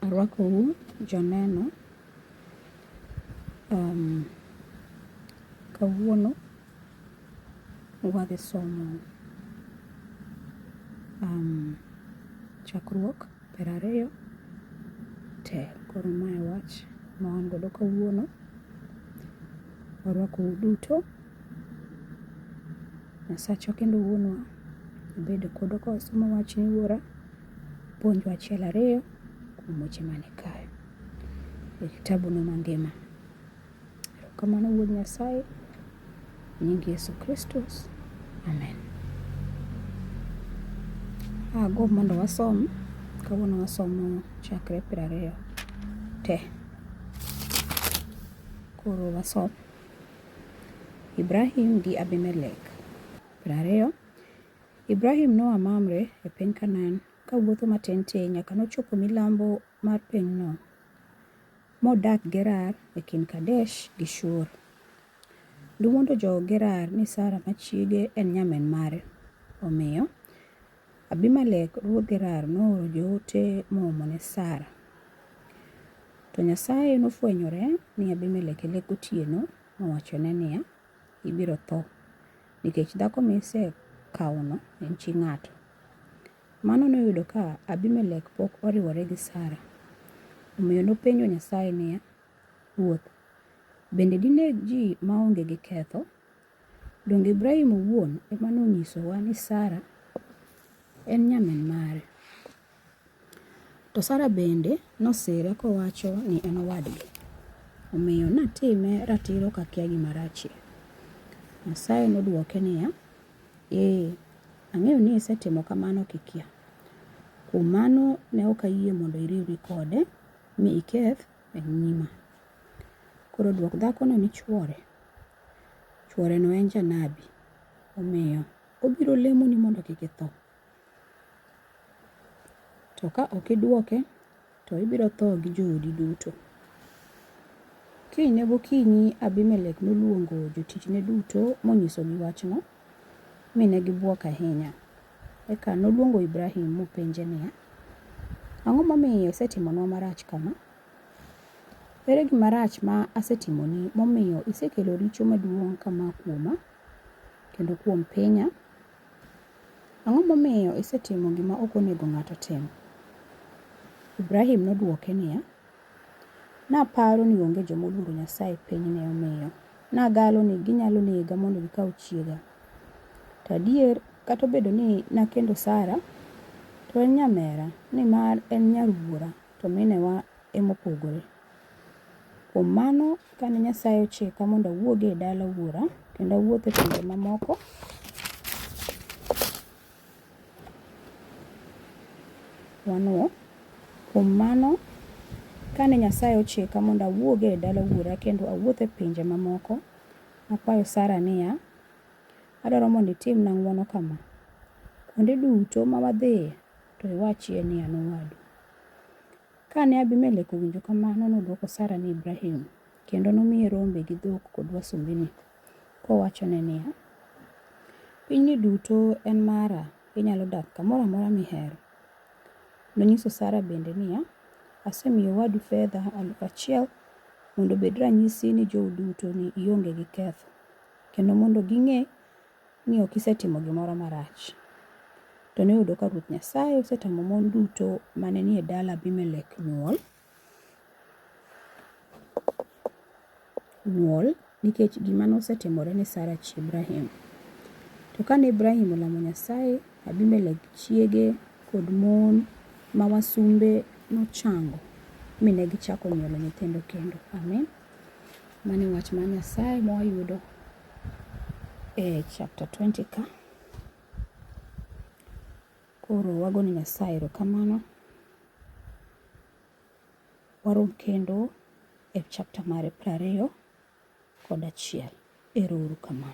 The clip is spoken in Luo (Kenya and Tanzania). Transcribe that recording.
Arwakou joneno. Um, kawuono wadhi somo um, chakruok piero ariyo te. Koro mae wach ma wan godo kawuono. Warwako uduto. Nyasachwa kendo wuonwa obed kodu ka wasomo wachni wuora. Puonjwa achiel ariyo kuom weche mane kae. E kitabu no mangima. Erokamano Wuod Nyasaye, nying Yesu Kristus, amen. Agombo mondo wasom, kawuono wasomo chakre piero ariyo te. Koro wasom. Ibrahim gi Abimelek. Piero ariyo. Ibrahim noa Mamre e piny Kanaan kawuotho matin tin nyaka nochopo milambo mar pinyno. modak Gerar e kind Kadesh gi Shur. Nowuondo jo-Gerar ni Sara ma chiege en nyamin mare. Omiyo, Abimelek ruodh Gerar nooro joote moomo ne Sara. To Nyasaye nofwenyore ni Abimelek e lek gotieno mowachone niya, Ibiro tho, nikech dhako misekawono en chi ng'ato. Mano noyudo ka Abimelek pok oriwore gi Sara. Omiyo nopenjo Nyasaye niya, Ruoth, bende dineg ji maonge gi ketho? Donge Ibrahim owuon ema nonyisowa ni Sara en nyamin mare? To Sara bende nosire kowacho ni en owadgi. Omiyo natime ratiro kakia gima rachie. Nyasaye nodwoke niya, Ee, ang'eyo ni isetimo kamano kikia. Kuom mano ne ok ayie mondo iriwri kode mi iketh e nyima. Koro dwok dhakono ni chwore. Chworeno en janabi, omiyo, obiro lemoni mondo kik itho. To ka ok idwoke to ibiro tho gi joodi duto. Kinyne gokinyi Abimelek noluongo jotichne duto monyisogi wachno, mi ne gibwok ahinya. Eka noluongo Ibrahim mopenje niya, Ang'o momiyo isetimonwa marach kama? Ere gima rach ma asetimoni momiyo isekelo richo maduong' kama kuoma kendo kuom pinya? Ang'o momiyo isetimo gima ok onego ng'ato otim? Ibrahim nodwoke niya, Naparo ni onge joma oluoro Nyasaye e pinyni omiyo nagalo ni ginyalo nega mondo gikaw chiega. To adier, kata obedo ni nakendo Sara, to en nyamera, nimar en nyar wuora, to minewa e mopogore. Kuom mano, kane Nyasaye ochika mondo awuog e dala wuora kendo awuoth e pinje mamoko, wanwo, kuom mano, kane Nyasaye ochika mondo awuog e dala wuora kendo awuoth e pinje mamoko, nakwayo Sara niya, Adwaro mondo itimna ng'wono kama, Kuonde duto ma wadhiye, to iwachie ni an owadu. Ka ne Abimelek owinjo kamano, nodwoko Sara ni Ibrahim, kendo nomiye rombe gi dhok kod wasumbini, kowachone niya, Pinyni duto en mara, inyalo dak kamoro amora mihero. Nonyiso Sara bende niya, Asemiyo owadu fedha aluf achiel mondo obed ranyisi ni jou duto ni ionge gi ketho, kendo mondo ging'e ni ok isetimo gimoro marach. To noyudo ka Ruoth Nyasaye osetamo mon duto mane nie dala Abimelek nyuol, nyuol nikech gima nosetimore ne Sara chi Ibrahim. To kane Ibrahim olamo Nyasaye, Abimelek chiege kod mon ma wasumbe nochango, mi ne gichako nyuolo nyithindo kendo. Amin. Mani wach mar Nyasaye mwayudo e chapter 20 ka. Koro wago ni Nyasaye erokamano. Warom kendo e chapter mare prariyo kod achiel. Ero uru kamano.